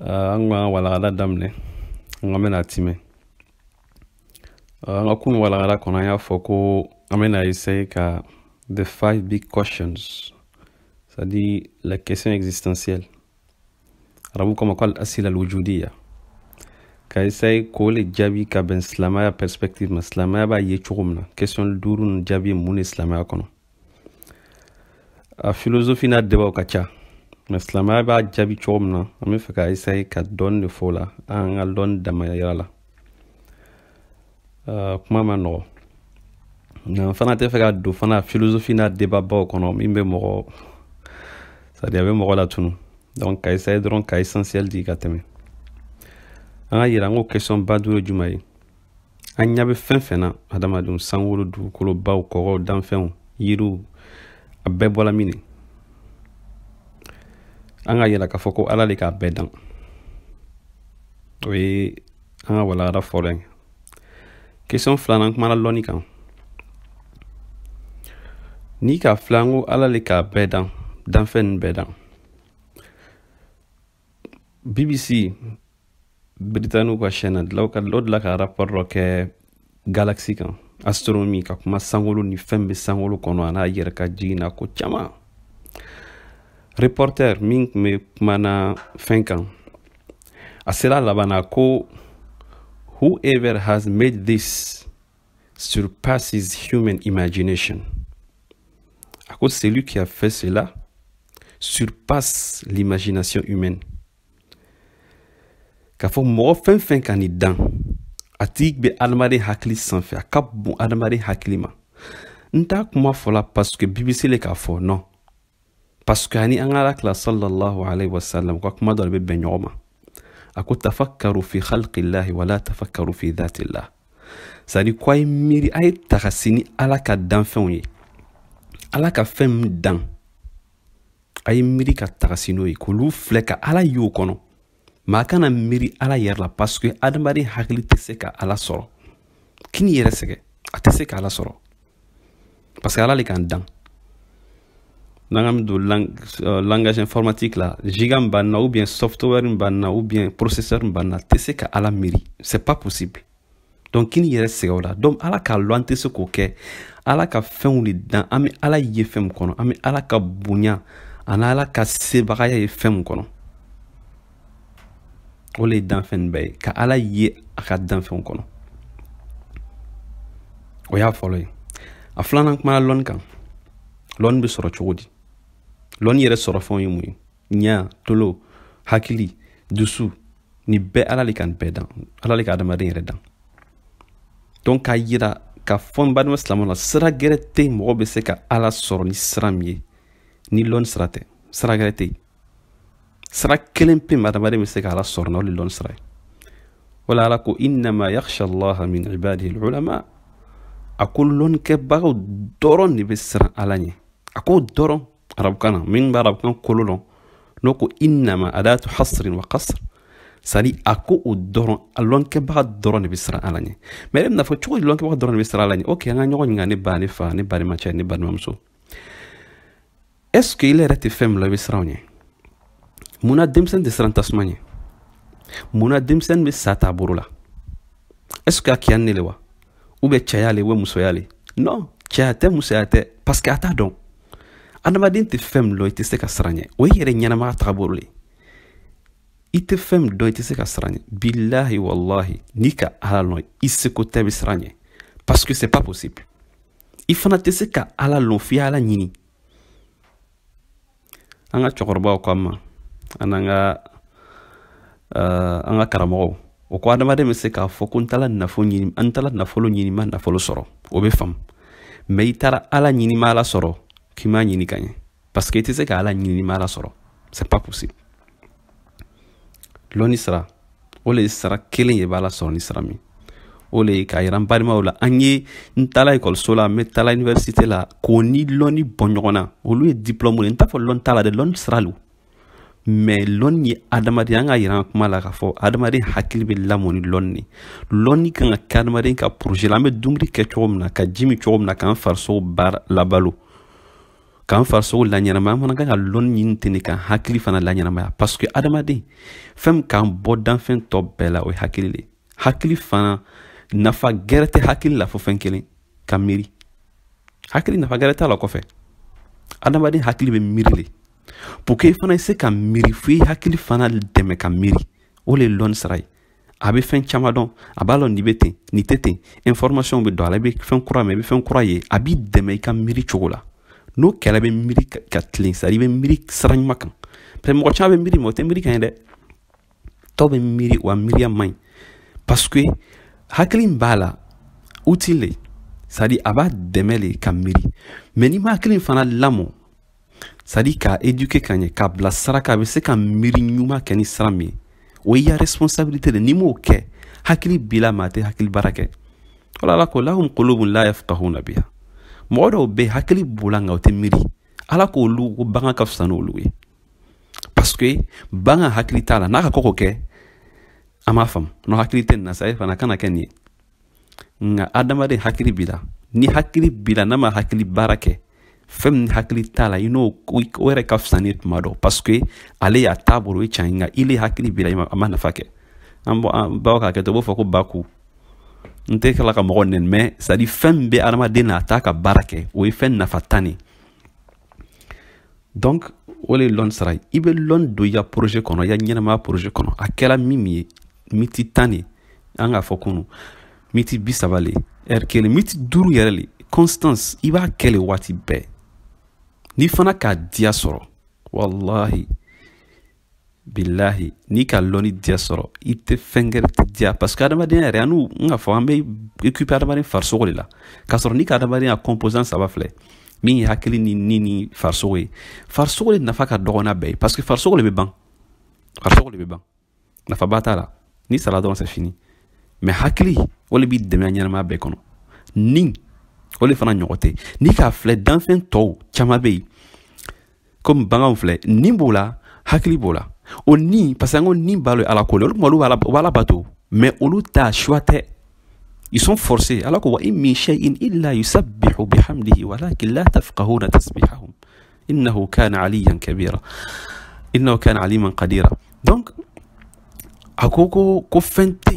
an ka walagada daminɛ an ka bɛna timɛ an ka kunu walagada kɔnɔ an y'a fɔ ko an bɛna essaye ka the five big questions c'est à dire la question existentielle arabukan ma ko al asila al wujudiya ka essaye k'o le jaabi ka bɛn silamɛya perspective ma silamɛya b'a ye cogo min na question duuru nin jaabi ye mun de silamɛya kɔnɔ a filozofi n'a debaw ka ca mais silamɛya b'a jaabi cogo min na an bɛ fɛ ka essaye ka dɔɔni de fɔ o la an ka dɔɔni dama yira la kuma ma nɔgɔ nka n fana tɛ fɛ ka don fana filozofi n'a debabaw kɔnɔ min bɛ mɔgɔ c'est à dire a bɛ mɔgɔ latunu donc ka essaye dɔrɔn ka essentiel di ka tɛmɛ an k'a yira ko question ba duuru ye juman ye an ɲa bɛ fɛn fɛn na hadamadenw sankolo dugukolo baw kɔgɔw danfɛnw yiriw a bɛɛ bɔla min de an k'a yira k'a fɔ ko ala le k'a bɛɛ dan o ye an ka walagada fɔlɔ ye question filanan kumana lɔnni kan n'i k'a filɛ ko ala le k'a bɛɛ dan danfɛn nin bɛɛ dan bbc britanikiw ka chaîne na dilaw ka o dila ka rapport dɔ kɛ galaxy kan astronomi ka kuma sankolo ni fɛn bɛ sankolo kɔnɔ an'a yɛrɛ ka jigin na ko caman reporter min tun bɛ kumana fɛn kan a sera laban na ko whoever has made this surpasses human imagination. A ko celui qui a fait cela surpasse l'imagination humaine. K'a fɔ mɔgɔ fɛn fɛn ka nin dan a tigi bɛ adamaden hakili sanfɛ a ka bon adamaden hakili ma n t'a kuma fɔla parce que bbc le k'a fɔ non parce que a ni an ka ala kila sallallahu alaihi wasallam ka kuma dɔ de bɛ bɛn ɲɔgɔn ma a ko tafakkaru fi khalqillahi wala tafakkaru fi dhatillah c'est à dire ko a ye miiri a ye tagasi ni ala ka danfɛnw ye ala ka fɛn min dan a ye miiri ka tagasi n'o ye k'olu filɛ ka ala y'o kɔnɔ mais a kana miiri ala yɛrɛ la parce que adamaden hakili tɛ se ka ala sɔrɔ kan'i yɛrɛ sɛgɛn a tɛ se ka ala sɔrɔ parce que ala le k'an dan n'an k'a don lang uh, langage informatique la giga min b'an na ou bien software min b'an na ou bien processeur min b'an na tɛ se ka ala miiri c'est pas possible donc kan'i yɛrɛ sɛgɛn o la donc ala k'a lɔn an tɛ se k'o kɛ ala ka fɛnw le dan an bɛ ala ye fɛn min kɔnɔ an bɛ ala ka bonya ani ala ka sebagaya ye fɛn min kɔnɔ o le ye danfɛn nin bɛɛ ye ka ala ye a ka danfɛnw kɔnɔ o y'a fɔlɔ ye a filanan kumana lɔnni kan lɔnni bɛ sɔrɔ cogo di lɔnni yɛrɛ sɔrɔ fɛnw ye mun ye ɲa tolo hakili dusu nin bɛɛ ala le k'a bɛɛ dan ala le ka adamaden yɛrɛ dan donc k'a yira k'a fɔ n badenma silamɛ la sira gɛrɛ tɛ yen mɔgɔ bɛ se ka ala sɔrɔ ni sira min ye ni lɔni sira tɛ sira gɛrɛ tɛ yen sira kelen pe ma adamaden bɛ se ka ala sɔrɔ n'o le lɔni sira ye wala ala ko innama yakhsha allaha min ibadihi ulama a ko lɔnnikɛbagaw dɔrɔn de bɛ siran ala ɲɛ a ko dɔrɔn arabukan na min bɛ arabukan kolo dɔn n'o ko innama adatu hasrin wa kasr c'est-à-dire a ko o dɔrɔn a lɔnkɛbaga dɔrɔn de bɛ siran ala ɲɛ mais e bɛn'a fɔ cogo di lɔnkɛbaga dɔrɔn de bɛ siran ala ɲɛ ok an ka ɲɔgɔn ɲininka ne ba ne fa ne balimacɛ ne balimamuso est ce que i yɛrɛ tɛ fɛn min lɔn i bɛ siran o ɲɛ mun na denmisɛnnin tɛ siran tasuma ɲɛ mun na denmisɛnnin bɛ sa ta a bolo la est ce que a kiya ni ne le wa o bɛ cɛya le o bɛ musoya le non cɛya tɛ musoya tɛ parce que a t'a dɔn adamaden tɛ fɛn min dɔn i tɛ se ka siran ɲɛ o ye yɛrɛ ɲɛnamaya tagabolo le i tɛ fɛn min dɔn i tɛ se ka siran ɲɛ bilahi walahi n'i ka ala lɔn i seko tɛ i bɛ siran ɲɛ parce que c'est pas possible i fana tɛ se ka ala lɔn f'i ala ɲini an ka cɛkɔrɔbaw ko an ma an n'an ka uh, an ka karamɔgɔw o ko adamaden bɛ se k'a fɔ ko n taara nafolo ɲini an taara nafolo ɲini ma nafolo sɔrɔ o bɛ faamu mais i taara ala ɲini i ma ala sɔrɔ k'i m'a ɲini ka ɲɛ parce que i tɛ se ka ala ɲini i ma ala sɔrɔ c'est pas possible lɔnni sira o le ye sira kelen ye i bɛ ala sɔrɔ ni sira min o le ye k'a yira n balimaw la an ye n taala ekɔliso la n bɛ taa l'université la k'o ni lɔnni bɔ ɲɔgɔn na olu ye diplɔmu ye n t'a fɔ lɔnni t'a la dɛ lɔnni sira lo mais lɔnni ye adamaden an k'a yira an kuma la k'a fɔ adamaden hakili bɛ lamɔ ni lɔnni de lɔnni kan ka kɛ adamaden ka projet la an bɛ dumuni kɛ cogo min na ka ji min cogo min na k'an farisogo baara labalo k'an farisogo laɲɛnamaya an fana kan ka lɔnni ɲini ten de k'an hakili fana laɲɛnamaya parce que adamaden fɛn min k'an bɔ danfɛn tɔ bɛɛ la o ye hakili de hakili fana nafa gɛrɛ tɛ hakili la fo fɛn kelen ka miiri hakili nafa gɛrɛ t'a la kɔfɛ adamaden hakili bɛ miiri de pour que i fana i se ka miiri fo i hakili fana dɛmɛ ka miiri o le ye lɔnni sira ye a bɛ fɛn caman dɔn a b'a lɔn nin bɛ ten nin tɛ ten information bɛ don a la i bɛ fɛn kura mɛn i bɛ fɛn kura ye a b'i dɛmɛ i ka miiri cogo la n'o kɛra i bɛ miiri ka tilen c'est-à-dire i bɛ miiri sira ɲuman kan parce que mɔgɔ caman bɛ miiri mɔgɔ tɛ miiri ka ɲɛ dɛ dɔw bɛ miiri wa miiriya man ɲi parce que hakili min b'a la outil le c'est-à-dire a b'a dɛmɛ de ka miiri mais n'i ma hakili fana lamɔ c'est à dire k'a éduquer ka ɲɛ k'a bila sira kan a bɛ se ka miiri ɲuman kɛ ni sira min ye o y'i ya responsabilité de n'i m'o kɛ hakili b'i la mais a tɛ hakili baara kɛ wala ala ko lahum qulubun la yafqahuna biha mɔgɔ dɔw bɛ yen hakili b'o la nka o tɛ miiri ala k'olu ko bagan ka fisa n'olu ye parce que bagan hakili t'a la n'a ka ko ko kɛ an b'a faamu n'o hakili tɛ nin na sa e fana kana kɛ nin ye nka adamaden hakili b'i la ni hakili b'i la n'a ma hakili baara kɛ fɛn min hakili t'a la i n'o o yɛrɛ ka fisa n'i ye tuma dɔ parce que ale y'a t'a bolo o ye can ye nka ile hakili b'i la a ma nafa kɛ an baw k'a kɛ to u b'o fɔ ko ba ku n tɛ kala ka mɔgɔ nɛni mɛ c'est à dire fɛn min bɛ adamaden na a t'a ka baara kɛ o ye fɛn nafantan de ye donc o le lɔnni sira i bɛ lɔnni don i ka projet kɔnɔ i ka ɲɛnamaya projet kɔnɔ a kɛra min min ye miniti tan de an k'a fɔ kunu miniti bi saba le ɛri kelen miniti duuru yɛrɛ le constance i b'a kɛ le waati bɛɛ n'i fana k'a diya sɔrɔ walahi bilahi n'i ka lɔnni diya sɔrɔ i tɛ fɛn wɛrɛ tɛ diya parce que adamadenya yɛrɛ an tun k'a fɔ an bɛ occupé adamaden farisogo de la k'a sɔrɔ n'i ka adamadenya composant saba filɛ min ye hakili ni ni ni farisogo ye farisogo de nafa ka dɔgɔn n'a bɛɛ ye parce que farisogo de bɛ ban farisogo de bɛ ban nafaba t'a la n'i sara dɔrɔn c'est fini mais hakili o de b'i dɛmɛ ɲɛnamaya bɛɛ kɔnɔ ni o de fana ɲɔgɔn tɛ n'i k'a filɛ danfɛn tɔw caman bɛ yen komi baganw filɛ ni b'o la hakili b'o la o ni parce que an ko ni b'a la ala ko la olu kuma olu b'ala bato mais olu ta choix tɛ ils sont forcés ala ko wa in min shay'in illa yusabbihu bihamdihi walakin la tafqahuna tasbihahum innahu kana aliyan kabira innahu kana aliman qadira donc a ko ko ko fɛn tɛ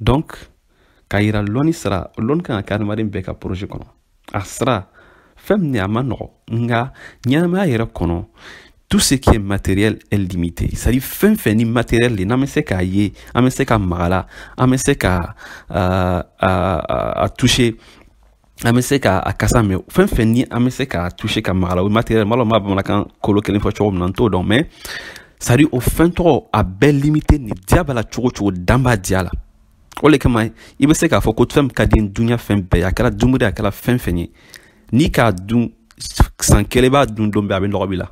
donc k'a yira lɔnni sira lɔnni kan ka kɛ adamaden bɛɛ ka projet kɔnɔ a sira fɛn min a man nɔgɔ nka ɲɛnamaya yɛrɛ kɔnɔ tout ce qui est matériel est limité c'est à dire fɛn fɛn ni matériel de n'an bɛ se k'a ye an bɛ se ka maga a la an bɛ se ka a toucher an bɛ se ka a kasa mɛn fɛn fɛn ni an bɛ se k'a toucher ka maga a la o matériel lo an b'a bamanankan kolo kelen fɔ cogo min na n t'o dɔn mais c'est à dire o fɛn tɔgɔ a bɛɛ limité ni diya b'a la cogo cogo dan b'a diya la o le kama i bɛ se k'a fɔ ko fɛn ka di dunya fɛn bɛɛ a kɛra dumuni a kɛra fɛn fɛn ye n'i k'a dun san kelen b'a dun don bɛɛ a bɛ nɔgɔ b'i la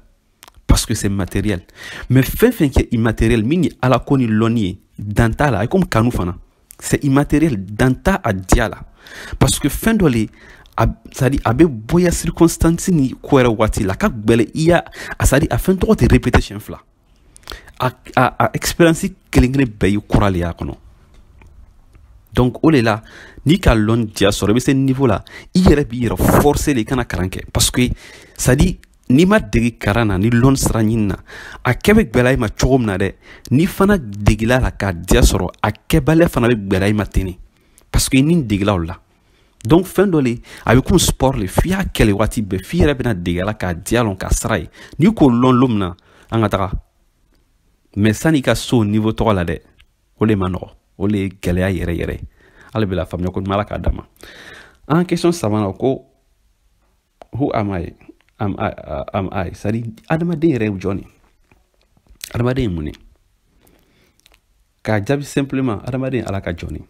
parce que c'est matériel mais fɛn fɛn kɛ immatériel min ye ala ko ni lɔnni ye dan t'a la a ye komi kanu fana c'est immatériel dan t'a a diya la parce que fɛn dɔ le c'est à dire a bɛ bɔ i ya circonstance ni ko yɛrɛ waati la ka gbɛlɛ i y'a a c'est à dire a fɛn tɔgɔ tɛ répéter siɲɛ fila a a a expérience kelen kelen bɛɛ y'i kura le y'a kɔnɔ donc o de la n'i ka lɔn diya sɔrɔ i bɛ se niveau la i yɛrɛ b'i yɛrɛ forcer de i kana kalan kɛ parce que c'est à dire n'i ma degi karan na ni lɔn sira ɲini na a kɛ bɛ gwɛlɛya i ma cogo min na dɛ n'i fana degila la k'a diya sɔrɔ a kɛbaliya fana bɛ gwɛlɛya i ma ten ne parce que i ni degila o la donc fɛn dɔ le a bɛ komi sport le f'i y'a kɛ le waati bɛɛ f'i yɛrɛ bɛna dege a la k'a diya lɔn k'a sira ye n'i k'o lɔn lon min na an ka taga mɛ san'i ka s'o niveau tɔgɔ la dɛ o le ma nɔgɔ o le ye gɛlɛya yɛrɛ yɛrɛ ye ala bɛɛ lafaamuya koɲuman ala k'a d'an ma an ka question sabanan ko who am I am I uh, am I c'est à dire adamaden yɛrɛ ye jɔn ye adamaden ye mun ye k'a jaabi simplement adamaden ye ala ka jɔn ye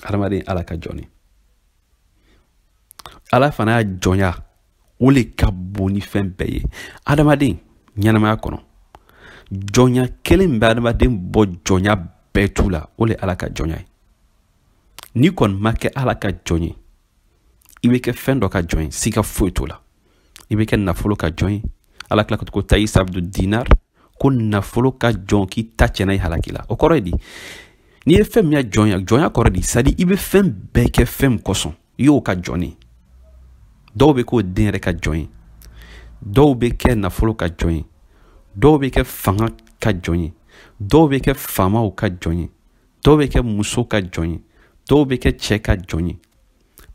adamaden ye ala ka jɔn ye ala fana ya jɔnya o le ka bon ni fɛn bɛɛ ye adamaden ɲɛnamaya kɔnɔ jɔnya kelen min bɛ adamaden bɔ jɔnya bɛɛ tu la o le ala ka jɔnya ye n'i kɔni ma kɛ ala ka jɔn ye i bɛ kɛ fɛn dɔ ka jɔn ye siga foyi t'o la i bɛ kɛ nafolo ka jɔn ye ala kila ka to ko tayisa abdu dinar ko nafolo ka jɔn k'i ta tiɲɛna i halaki la o kɔrɔ ye di n'i ye fɛn min ya jɔn ye jɔnya kɔrɔ di c'est à dire i bɛ fɛn bɛɛ kɛ fɛn min kosɔn i y'o ka jɔn ye dɔw bɛ k'o den yɛrɛ ka jɔn ye dɔw bɛ kɛ nafolo ka jɔn ye dɔw bɛ kɛ fanga ka jɔn ye dɔw bɛ kɛ faamaw ka jɔn ye dɔw bɛ kɛ muso ka jɔn ye dɔw bɛ kɛ cɛ ka jɔn ye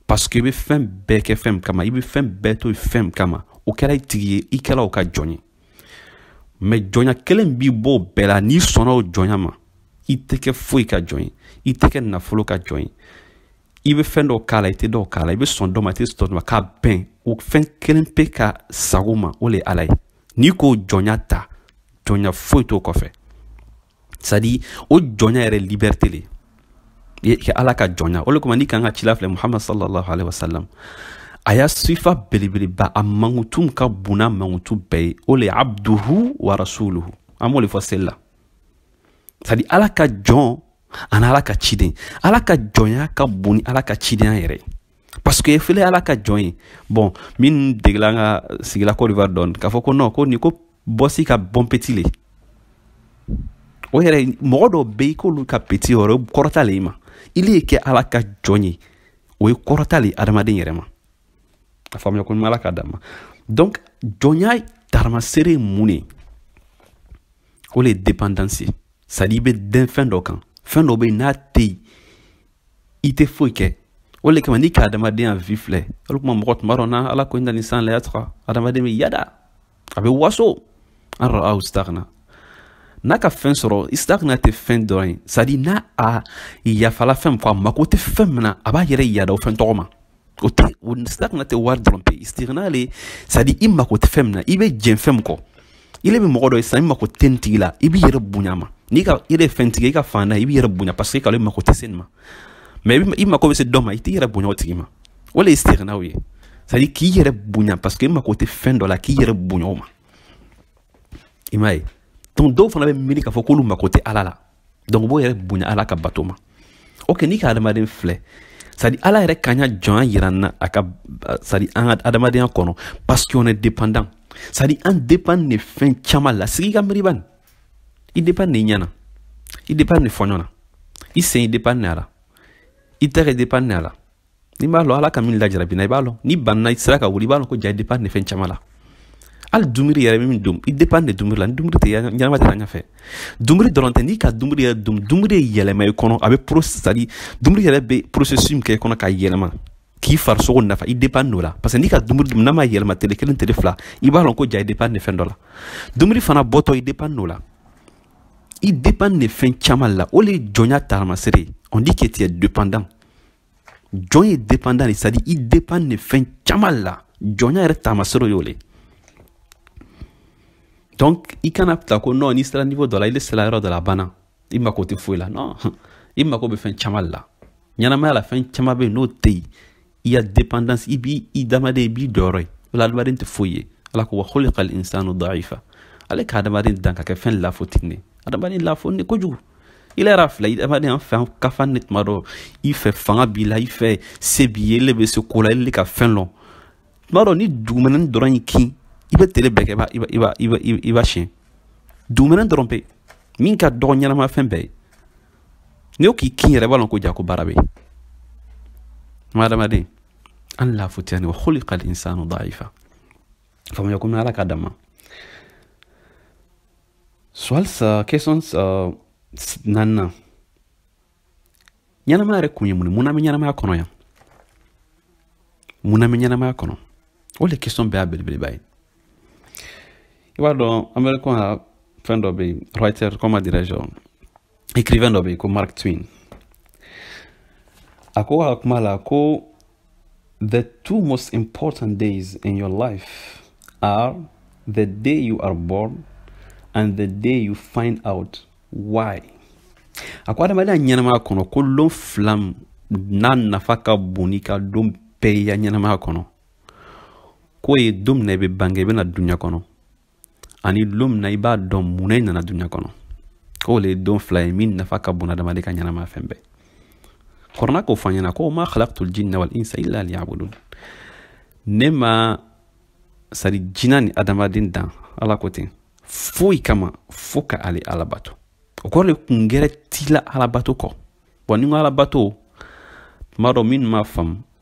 parce que i bɛ fɛn bɛɛ kɛ fɛn min kama i bɛ fɛn bɛɛ to fɛn min kama o kɛra i tigi ye i kɛra o ka jɔn ye mɛ jɔnya kelen b'i bɔ o bɛɛ la n'i sɔnna o jɔnya ma i tɛ kɛ foyi ka jɔn ye i tɛ kɛ nafolo ka jɔn ye i bɛ fɛn dɔw k'a la i tɛ dɔw k'a la i bɛ sɔn dɔ ma i tɛ sɔn dɔ ma k'a bɛn o fɛn kelen pe ka sago ma o le ye ala ye n'i k'o jɔnya ta jɔnya foyi t'o kɔfɛ c'est à dire o jɔnya yɛrɛ liberté le ye kɛ ala ka jɔnya o le kama n'i k'an ka cila filɛ muhamad sallallahu alaihi wasallam a ya sifa belebeleba a mankutu min ka bon n'a mankutu bɛɛ ye o le ye abduhu wa rasuluhu an b'o le fɔ seli la c'est à dire ala ka jɔn ani ala ka ciden ala ka jɔnya ka bon ni ala ka cidenya yɛrɛ ye parce que fele ala ka jɔn ye bon min degela an ka sigila cote d'ivoire dɔɔni k'a fɔ ko non ko nin ko bɔsi ka bon petit le o yɛrɛ mɔgɔ dɔw bɛ i k'olu ka petit yɔrɔ o kɔrɔta le i ma i le ye kɛ ala ka jɔn ye o ye kɔrɔta le adamaden yɛrɛ ma a faamuya ko ala ka dama donc jɔnya taamasere ye mun de o le ye dépendance ye c'est à dire i bɛ dɛn fɛn dɔ kan fɛn dɔ bɛ yen n'a tɛ yen i tɛ foyi kɛ o de kama n'i ka adamadenya vie filɛ o de kuma mɔgɔ tuma dɔ na ala ko inna al insana layatga adamaden bɛ yada a bɛ waso an ra'ahu stagna n'a ka fɛn sɔrɔ istigna tɛ fɛn dɔrɔn ye c'est à dire n'a a yafala fɛn fɔ a mako tɛ fɛn min na a b'a yɛrɛ yada o fɛn tɔgɔ ma o tɛ istigna tɛ wari dɔrɔn pe istigna le c'est à dire i mako tɛ fɛn min na i bɛ jɛn fɛn min kɔ i le bɛ mɔgɔ dɔ ye sisan i mako tɛ nin tigi la i b'i yɛrɛ bonya ma n'i ka i yɛrɛ fɛn tigi i ka fan na i b'i yɛrɛ bonya parce que k'ale mako tɛ se nin ma mais i mako bɛ se dɔ ma i t'i yɛrɛ bonya o tigi ma o le ye istigna ye c'est à dire k'i yɛrɛ bonya parce que i mako tɛ fɛn dɔ la k'i yɛrɛ bonya o ma i m'a ye donc dɔw fana bɛ miiri k'a fɔ k'olu mako tɛ ala la donc o b'o yɛrɛ bonya ala ka bato ma ok n'i ka adamaden filɛ c'est à dire ala yɛrɛ k'an ya jɔnya yira an na a ka c'est à dire an ka adamadenya kɔnɔ parce que on est dépendant c'est à dire an dépend de fɛn caman la sigi ka miiri bani i dépend de i ɲɛ na i dépend de fɔɲɔ na i sen i dépend de a la i tɛgɛ dépend de a la n'i b'a lɔn ala ka min lajarabina i b'a lɔn n'i banna i sera ka wuli i b'a lɔn ko ja i dépend de fɛn caman la hali dumuni yɛrɛ bɛ min dum i dépend de dumuni la ni dumuni tɛ ɲɛnama tɛ ɲɛfɛ dumuni dɔrɔn tɛ n'i ka dumuni yɛrɛ dum dumuni ye yɛlɛma i kɔnɔ a bɛ pro c'est à dire dumuni yɛrɛ bɛ processus min kɛ i kɔnɔ k'a yɛlɛma k'i farisogo nafa i dépend d'o la parce que n'i ka dumuni dum n'a ma yɛlɛma tele kelen tele fila i b'a lɔn ko ja i dépend de fɛn dɔ la dumuni fana bɔtɔ i dépend d'o la i dépend de fɛn caman la o de ye jɔnya taamasere on dit que tu es dépendant jɔn ye dépendant de c'est à dire i dépend de fɛn caman la jɔnya yɛrɛ taamasere y'o le donc i kana ta ko non n'i sera niveau dɔ la i le sera yɔrɔ dɔ la banna i mako tɛ foyi la non i mako bɛ fɛn caman la ɲɛnamaya la fɛn caman bɛ yen n'o tɛ yen i ya dépendance i b'i adamaden i b'i dɔyɔrɔ ye o la adamaden tɛ foyi ye ala ko wa khuliqa al insanu daifa ale ka adamaden dan ka kɛ fɛn lafutini ye adamaden lafuni kojugu i le yɛrɛ filɛ i adamaden an fɛ an kafa ne tuma dɔ i fɛ fanga b'i la i fɛ se b'i ye i le bɛ se ko la ele ka fɛn lɔn tuma dɔ ni dugumɛnɛni dɔrɔn y'i kin i bɛ tele bɛɛ kɛ i b'a i b'a i b'a i b'a siyɛn dugumɛnɛni dɔrɔn pe min ka dɔgɔ ɲɛnama fɛn bɛɛ ye ni o k'i kin yɛrɛ i b'a lɔn ko ja ko baara bɛ yen ma adamaden an lafutiyani wa khuliqa al insanu daifa faamuya ko ala ka dama Suwali uh, question uh, s- an na ɲɛnamaya yɛrɛ kun ye mun ye mun na an bɛ ɲɛnamaya kɔnɔ yan mun na an bɛ ɲɛnamaya kɔnɔ o de question bɛɛ y'a belebeleba ye i b'a dɔn américain ka fɛn dɔ bɛ yen writer comment dirais-je écrivain dɔ bɛ yen ko mark twain a ko a ka kuma la ko The two most important days in your life are the day you are born and the day you find out why. A ko adamaden ya ɲɛnamaya kɔnɔ ko lon fila min nafa ka bon n'i ka lon bɛɛ y'i ka ɲɛnamaya kɔnɔ k'o ye don min na i bɛ bange i bɛ na duniɲa kɔnɔ ani don min na i b'a dɔn mun na i nana duniɲa kɔnɔ k'o le ye don fila ye min nafa ka bon adamaden ka ɲɛnamaya fɛn bɛɛ kɔrana k'a fɔ an ɲɛna ko ma khalaqtul jinna wal insa illa liyabudun ne ma sari jina ni adamaden dan ala ko ten foyi kama fo ka ale ala bato o kɔrɔ le kun gɛrɛ t'i la alabato kɔ bon n'i ko alabato tuma dɔ minnu m'a faamu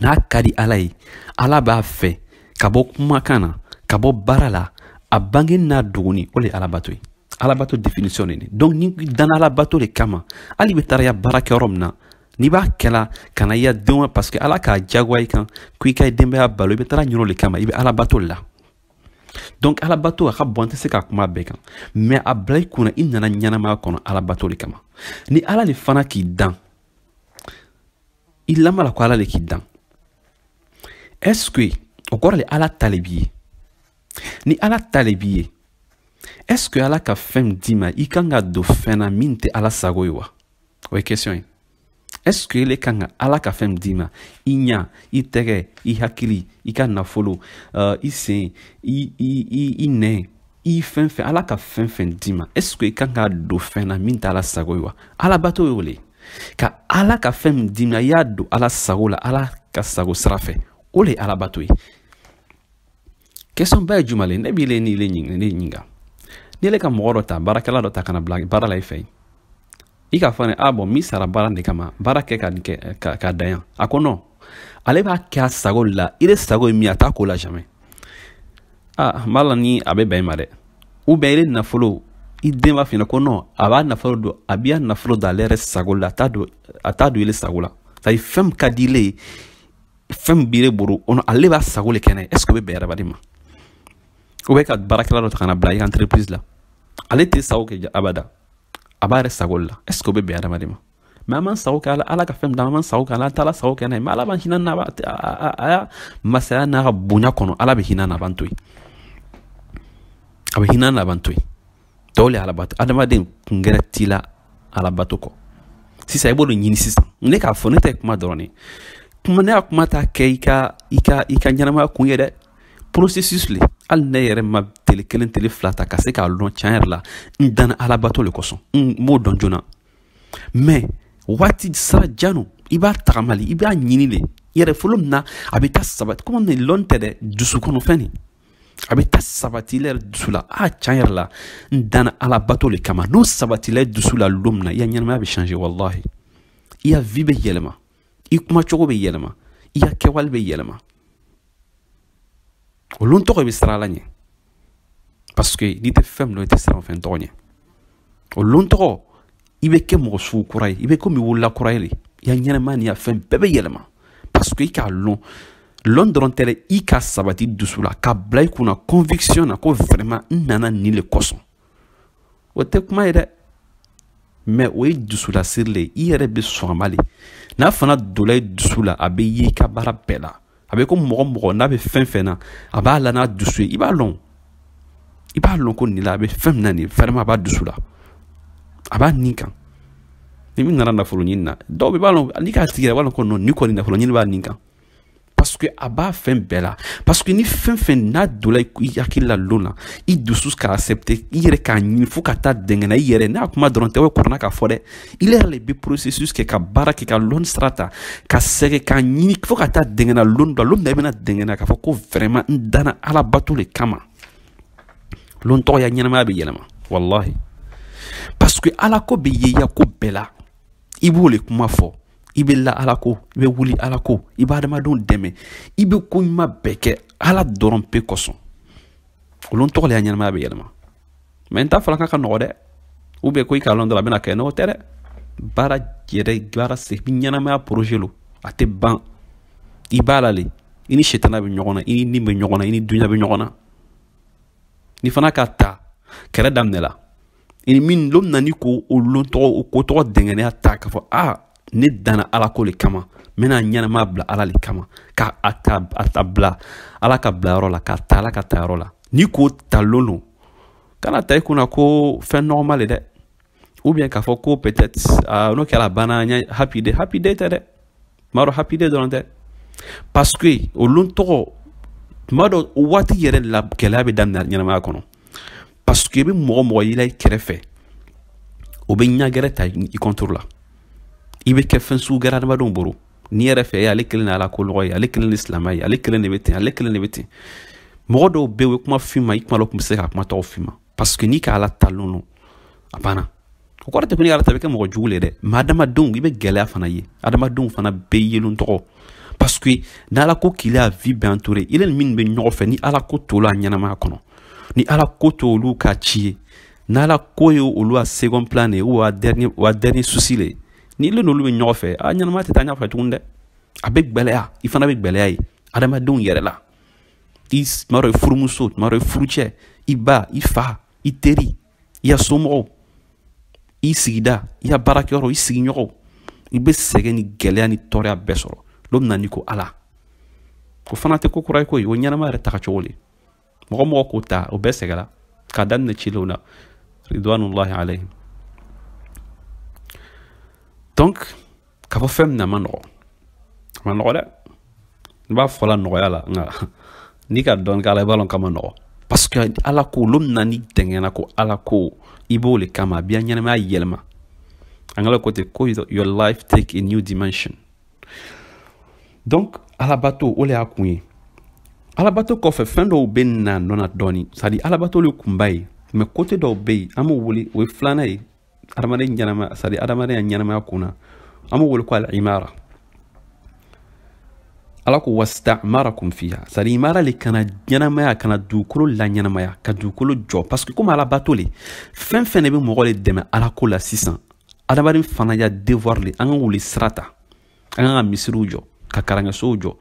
n'a ka di ala ye ala b'a fɛ ka bɔ kumakan na ka bɔ baara la a bangeni n'a dogoni o de ye alabato ye alabato definition de donc n'i danna alabato de kama hal'i bɛ taara i ya baara kɛ yɔrɔ min na n'i b'a kɛla ka na i ya denw parce que ala k'a jagoya i kan ko i ka denbaya balo i bɛ taara yɔrɔ de kama i bɛ alabato la donc alabato a ka bon an tɛ se ka kuma a bɛɛ kan mais a bila i kun na i nana ɲɛnamaya kɔnɔ alabato de kama ni ala de fana k'i dan i lanin b'a la ko ala le k'i dan est ce que o kɔrɔ le ala ta le b'i ye ni ala ta le b'i ye est ce que ala ka fɛn min d'i ma i kan k'a don fɛn na min tɛ ala sago ye wa o ye question ye est ce que ile kan ka ala ka fɛn min d'i ma i ɲa i tɛgɛ i hakili i ka nafolo uh, i sen i, i, i, i nɛn i fɛn fɛn ala ka fɛn fɛn d'i ma est ce que i kan k'a don fɛn na min t'ala sago ye wa alabato y'o le ka ala ka fɛn min d'i ma i y'a don ala sago la ala ka sago sira fɛ o le ye alabato ye question ba ye juma le ne b'i le ni le ɲininka ni ile ka mɔgɔ dɔ ta baarakɛla dɔ ta ka n'a bila baara la i fɛ yen i k'a fɔ a ɲɛna bon n b'i sara baara de kama baara kɛ ka nin kɛ ka dan yan a ko non ale b'a kɛ a sago de la i de sago ye min a t'a k'o la jamais a n ma la ni a bɛ bɛn i ma dɛ ou bien i de nafolo i den b'a f'i ɲɛna ko non a b'a nafolo don a b'i ya nafolo don ale yɛrɛ sago la a t'a don a t'a don i le sago la c'est à dire fɛn min ka di ile ye fɛn min b'i le bolo o ale b'a sago le kɛnɛ est ce que o bɛ bɛn adamaden ma ou bien ka baarakɛla dɔ ta ka n'a bila i ka entreprise la ale t'i sago kɛ abada a b'a yɛrɛ sago la est ce que o bɛ bɛn adamaden ma mɛ an b'an sago kɛ ala ala ka fɛn d'a ma an sago kɛ ala an t'ala sago kɛ n'a ye mɛ ala b'an hinɛ n'a a ya masaya n'a ka bonya kɔnɔ ala bɛ hinɛ n'a b'an to yen a bɛ hinɛ n'a b'an to yen tɔw le alabato adamaden kun gɛrɛ t'i la alabato kɔ sisan i b'o de ɲini sisan ne k'a fɔ ne tɛ kuma dɔrɔn de kuma ne y'a kuma ta kɛ i ka i ka i ka ɲɛnamaya kun ye dɛ processus le hali ne yɛrɛ ma tele kelen tele fila ta ka se k'a lɔn tiɲɛ yɛrɛ la n danna alabato le kosɔn n m'o dɔn joona mɛ waati sira jan lo i b'a tagama le i b'a ɲini le yɛrɛ fo lon min na a bɛ taa sabati komi nin lɔn tɛ dɛ dusukɔnɔfɛn nin a bɛ taa sabati i yɛrɛ dusu la a tiɲɛ yɛrɛ la n danna alabato le kama n'o sabatila i dusu la lon min na i ya ɲɛnamaya bɛ changer walahi i ya vie bɛ yɛlɛma i kuma cogo bɛ yɛlɛma i ya kɛwale bɛ yɛlɛma o lon tɔgɔ i bɛ siran ala ɲɛ parce que n'i tɛ fɛn min lɔn i tɛ siran fɛn tɔgɔ ɲɛ o lon tɔgɔ i bɛ kɛ mɔgɔ sugu kura ye i bɛ komi wolola kura ye le i ya ɲɛnamaya n'i ya fɛn bɛɛ bɛ yɛlɛma parce que i k'a lɔn lɔn dɔrɔn tɛ dɛ i k'a sabati i dusu la k'a bila i kunna conviction na ko vraiment n nana nin le kosɔn o tɛ kuma ye dɛ mɛ o ye dusulasiri le ye i yɛrɛ bɛ sɔn a ma le n'a fana donna i dusu la a bɛ ye i ka baara bɛɛ la a bɛ ko mɔgɔ mɔgɔ n'a bɛ fɛn fɛn na a b'a la n'a dusu ye i b'a lɔn i b'a lɔn ko nin la a bɛ fɛn min na nin vraiment a b'a dusu la a b'a nin kan ni min nana nafolo ɲini na dɔw bɛɛ b'a lɔn n'i k'a tigi yɛrɛ b'a lɔn ko non nin kɔni nafolo ɲini b'a nin kan parce que a b'a fɛn bɛɛ la parce que ni fɛn fɛn n'a donna i hakili la lon na i dusu k'a accepter i yɛrɛ k'a ɲini fo ka taa dɛngɛna i yɛrɛ n'a kuma dɔrɔn tɛ o kɔrɔna k'a fɔ dɛ i yɛrɛ le bɛ processus kɛ ka baara kɛ ka lɔn sira ta ka sɛgɛn k'a ɲini fo ka taa dɛngɛna lon dɔ lon na i bɛna dɛngɛna k'a fɔ ko vraiment n danna ala bato le kama lon tɔgɔ i ya ɲɛnamaya bɛ yɛlɛma walahi parce que ala ko bɛ ye i ya ko bɛɛ la i b'o le kuma fɔ i bɛ la ala ko i bɛ wuli ala ko i bɛ adamadenw dɛmɛ i bɛ ko ɲuman bɛɛ kɛ ala dɔrɔn pe kosɔn o lon tɔgɔ le i ya ɲɛnamaya bɛ yɛlɛma mɛ n t'a fɔla k'a ka nɔgɔ dɛ ou bien ko i k'a lɔn dɔrɔn a bɛna kɛ n'o tɛ dɛ baara yɛrɛ baara se ɲɛnamaya projet lo a tɛ ban i b'a la le i ni setana bɛ ɲɔgɔn na i ni nin bɛ ɲɔgɔn na i ni dunya bɛ ɲɔgɔn na n'i fana k'a ta kɛlɛ daminɛla i ni min lon na n'i ko o lon tɔgɔ o ko tɔgɔ dɛngɛnɛya ta k'a fɔ a ne danna ala ko le kama n bɛna ɲɛnamaya bila ala le kama ka a ta a ta bila ala ka bila yɔrɔ la k'a ta ala ka ta yɔrɔ la n'i k'o ta lon lon kan'a ta i kunna ko fɛn nɔgɔma le dɛ ou bien k'a fɔ ko peut-être uh, n'o kɛra banna n ye happy day happy day tɛ dɛ m'a dɔn happy day dɔrɔn tɛ parce que o lon tɔgɔ tuma dɔ waati yɛrɛ la gɛlɛya bɛ daminɛ ɲɛnamaya kɔnɔ parce que i bɛ mɔgɔ mɔgɔ yela i kɛrɛfɛ o bɛ ɲa gɛrɛ ta i contre la i bɛ kɛ fɛn sugu gɛrɛ adamadenw bolo n'i yɛrɛ fɛ ale kelen de ala ko mɔgɔ ye ale kelen de silamɛ ye ale kelen de bɛ ten ale kelen de bɛ ten mɔgɔ dɔw bɛ yen o ye kuma f'i ma i kuma la o tun bɛ se ka kuma tɔgɔ f'i ma parce que n'i ka ala ta dɔrɔn a banna o kɔrɔ tɛ ko n'i ala ta i bɛ kɛ mɔgɔ jugu le dɛ mais adamadenw i bɛ gɛlɛya fana ye adamadenw fana bɛ yelen tɔgɔ parce que ni ala ko k'i la vie bɛɛ entourer i ni minnu bɛ ɲɔgɔn fɛ ni ala ko t'o la ɲɛnamaya kɔnɔ ni ala ko t'olu ka ci ye ni ala ko ye olu ya second plan de ye wa dernier wa dernier souci le ni ile n'olu bɛ ɲɔgɔn fɛ a ɲɛnamaya tɛ taa ɲɛfɛ tuguni dɛ a bɛ gbɛlɛya i fana bɛ gbɛlɛya ye adamadenw yɛrɛ la i tuma dɔ i furumuso tuma dɔ i furucɛ i ba i fa i teri i ya somɔgɔw i sigida i ya baarakɛyɔrɔ i sigiɲɔgɔnw i bɛ sɛgɛn ni gɛlɛya ni tɔɔrɔya bɛɛ sɔrɔ lon min na n'i ko ala o fana tɛ ko kura ye ko ye o ɲɛnama yɛrɛ taga cogo le mɔgɔ mɔgɔ k'o ta o bɛɛ sɛgɛra k'a daminɛ cilenw na ridwanullahi alayhim donc k'a fɔ fɛn min na a ma nɔgɔ a ma nɔgɔ dɛ n b'a fɔla nɔgɔya la nka n'i ka dɔɔni k'a la i b'a lɔn k'a ma nɔgɔ parce que ala ko olu na ni dɛngɛna ko ala ko i b'o le kama a b'i ya ɲɛnamaya yɛlɛma anglais ko te ko your life take a new dimension donc alabato o le y'a kun ye alabato kɔfɛ fɛn dɔw bɛ na nɔ na dɔɔni sadi alabato le kunba ye mais côté dɔw bɛ yen an b'o wele o ye filanan ye adamaden ɲɛnamaya sadi adamaden ya ɲɛnamaya kun na an b'o wele ko al imara ala ko wastamarakum fiha sadi imara le ka na ɲɛnamaya ka na dugukolo laɲɛnamaya ka dugukolo jɔ parce que komi ala bato le fɛn fɛn de bɛ mɔgɔ le dɛmɛ ala ko la sisan adamaden fana ya devoir le an ka o le sira ta an kan ka misiriw jɔ ka karankɛsow jɔ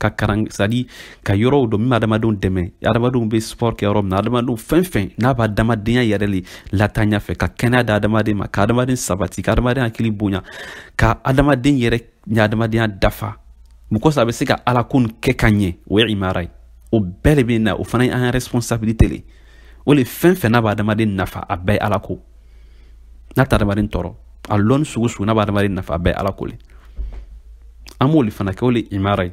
ka karan sadi ka yɔrɔw jɔ min bɛ adamadenw dɛmɛ adamadenw bɛ sport kɛ yɔrɔ min na adamadenw fɛn fɛn n'a bɛ adamadenya yɛrɛ le lataa ɲɛfɛ ka kɛnɛya da adamaden ma ka adamaden sabati ka adamaden hakili bonya ka adamaden yɛrɛ ya adamadenya dafa mɔgɔ saba bɛ se ka ala ko nin kɛ ka ɲɛ o ye imara ye o bɛɛ de bɛ na o fana ye an ka responsabilité le o le fɛn fɛn n'a bɛ adamaden nafa a bɛɛ ye ala ko n'a tɛ adamaden tɔɔrɔ a lɔnni sugu sugu n'a bɛ adamaden nafa a bɛɛ ala ko le an b'o le fana kɛ o le imara ye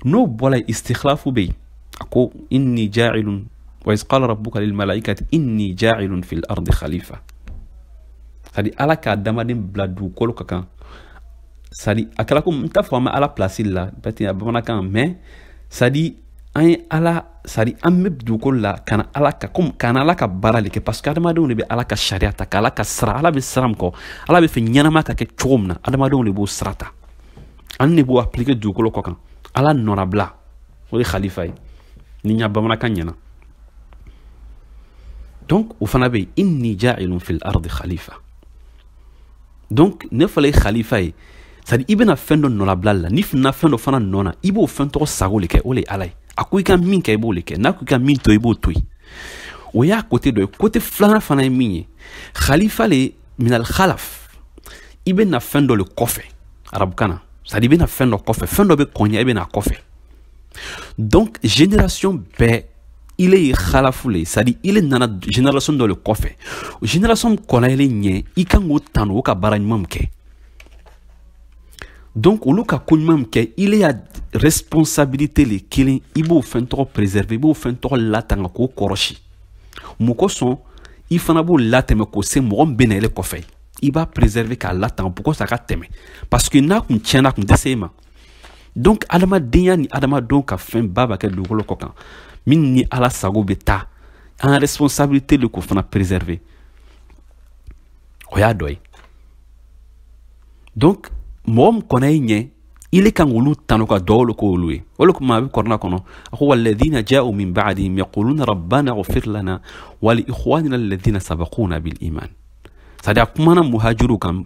n'o bɔra yen istikhlafu bɛ yen a ko inni ja'ilun wa iz qala rabbuka lil malaikati inni ja'ilun fil ardi khalifa sadi ala ka adamaden bila dugukolo ka kan sadi a kɛra ko n t'a fɔ an bɛ ala pilasi la bɛɛ tɛ bamanankan mɛ sadi an ye ala c'est à dire an bɛ dugukolo la ka na ala ka komi ka na ala ka baara le kɛ parce que adamadenw le bɛ ala ka sariya ta k'ala ka sara ala bɛ sira min kɔ ala b'a fɛ ɲɛnama ka kɛ cogo min na adamadenw le b'o sira ta ani de b'o appliquer dugukolo kɔ kan ala nɔnabila o le khalifa ye ni n ya bamanankan ɲɛna donc o fana bɛ yen inni jailun fil ardi khalifa donc n'a fɔla i ye khalifa ye c'est à dire i bɛna fɛn dɔ nɔlabila la n'i finna fɛn dɔ fana nɔ na i b'o fɛn tɔgɔ sago le kɛ o le ye ala ye a ko i ka min kɛ i b'o le kɛ n'a ko i ka min to i b'o to yen o y'a côté dɔ ye côté filanan fana ye min ye khalifa le minal khalaf i bɛ na fɛn dɔ le kɔfɛ arabukan na c'est à dire i bɛ na fɛn dɔ kɔfɛ fɛn dɔ bɛ kɔn ɲɛ i bɛ na kɔfɛ donc génération bɛɛ ile ye khalafu le ye c'est à dire ile nana génération dɔ le kɔfɛ génération kɔlayɛlen ɲɛ i kan k'o tanu o ka baara ɲuman min kɛ donc olu ka ko ɲuman min kɛ ile ya responsabilité le kelen i b'o fɛn tɔgɔ préserver i b'o fɛn tɔgɔ latanga k'o kɔrɔsi mun kosɔn i fana b'o latɛmɛ k'o se mɔgɔ min bɛna ile kɔfɛ i b'a préserver k'a latanga pour que ça ka tɛmɛ parce que n'a kun tiɲɛna kun tɛ se e ma donc adamadenya ni adamadenw ka fɛn baba kɛ dugukolo kɔ kan min ni ala sago bɛ taa an responsabilité le k'o fana préserver o y'a dɔ ye donc mɔgɔ min kɔnna i ɲɛ ile kan k'olu tanu ka duwawu k'olu ye o le kuma a bɛ kurana kɔnɔ a ko walladina ja'u min ba'dihim yaquluna rabbana ighfir lana wa li ikhwanina alladina sabaquna bil iman c'est à dire a kumana muhajiru kan